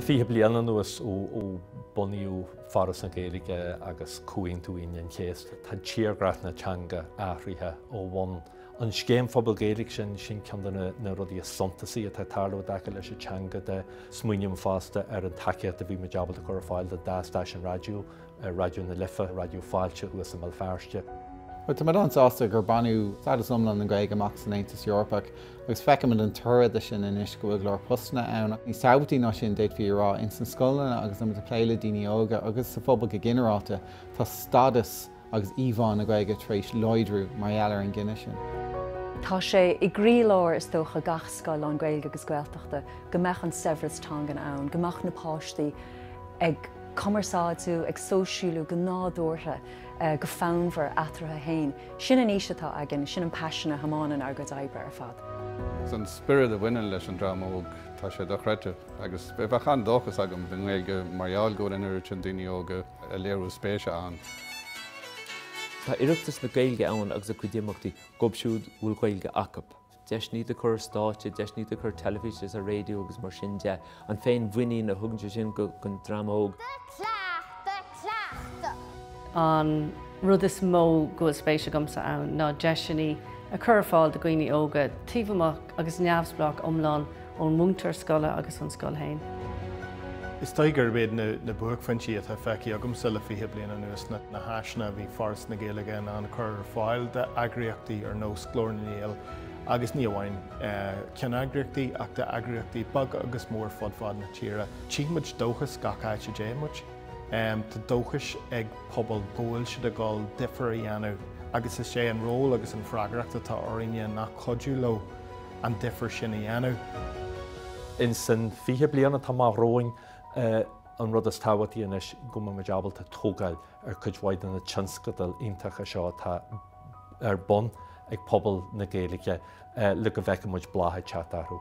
Le fiche bliain anuas ó bunaíodh Foras na Gaeilge agus Comhaontú Aoine an Chéasta, tá tírdhreach na teanga athraithe ó bhun. An Scéim Phobail Gaeilge sin, sin ceann de na rudaí is suntasaí atá ag tarlú i dtaca leis an teanga de. Smaoiním fosta ar an tacaíocht a bhí muid ábalta a chur ar fáil do dhá stáisiún raidió, Raidió na Life, Raidió Fáilte thuas i mBéal Feirste. Bhuel, tá muid an-sásta gur baineadh stádas iomlán na Gaeilge amach san Aontas Eorpach agus feicimid an toradh de sin anois, go bhfuil go leor postanna ann ach níos tábhachtaí ná sin, d'fhéadfaí a rá, ins na scoileanna agus muid ag plé le daoine óga agus sa phobal go ginearálta, tá stádas agus íomhá na Gaeilge tar éis láidriú mar gheall ar an gcinneadh sin. Tá sé i gcroílár is dócha gach scoil lán-Gaeilge agus Gaeltachta go mbeadh an saibhreas teangan ann, go mbeadh na páistí ag. cumarsáidiú, ag sóisialú go nádúrtha, go fonnmhar eatarthu féin. Sin an fhís atá againn, sin an paisean a thiomáineann ár gcuid oibre ar fad. An spiorad a bhaineann leis an dream óg, tá sé dochreidte. Agus bheadh an-dóchas agam don Ghaeilge mar gheall go bhfuil an oiread sin daoine óga ag léiriú spéise ann. Tá Oireachtas na Gaeilge ann agus a cuid imeachtaí dóibh siúd a bhfuil Gaeilge acu. deiseanna ó thaobh stáitse, deiseanna ó thaobh teilifíse is raidió agus mar sin de, an féinmhuinín a thugann sé sin don dream óg. An rud is mó go bhfuil spéis agamsa ann ná deiseanna a chur ar fáil do dhaoine óga, taobh amuigh agus neamhspleách iomlán ón múinteoir scoile agus ón scoil féin. Is dóigh gurb iad na buaicphointí atá feicthe agamsa le fiche bliain anuas ná na háiseanna a bhí Foras na Gaeilge in ann a chur ar fáil d'eagraíochtaí ar nós Glór na nGael agus ní amháin ceanneagraíochtaí ach d'eagraíochtaí beaga agus mór fud fad na tíre. Tchí muid dóchas gach áit a dtéann muid. Tá dóchas ag pobal go bhfuil siad ag dul difear a dhéanamh agus is é an ról agus an freagracht atá orainne ná cuidiú leo. an difear sin a dhéanamh. Ins an 20 bliain atá amach romhainn, an rud is tábhachtaí anois go mbeidh muid ábalta tógáil ar chuid mhaith de na tionscadail iontacha seo atá ar bun ag pobal na Gaeilge le go bhfeicfidh muid bláth ag teacht orthu.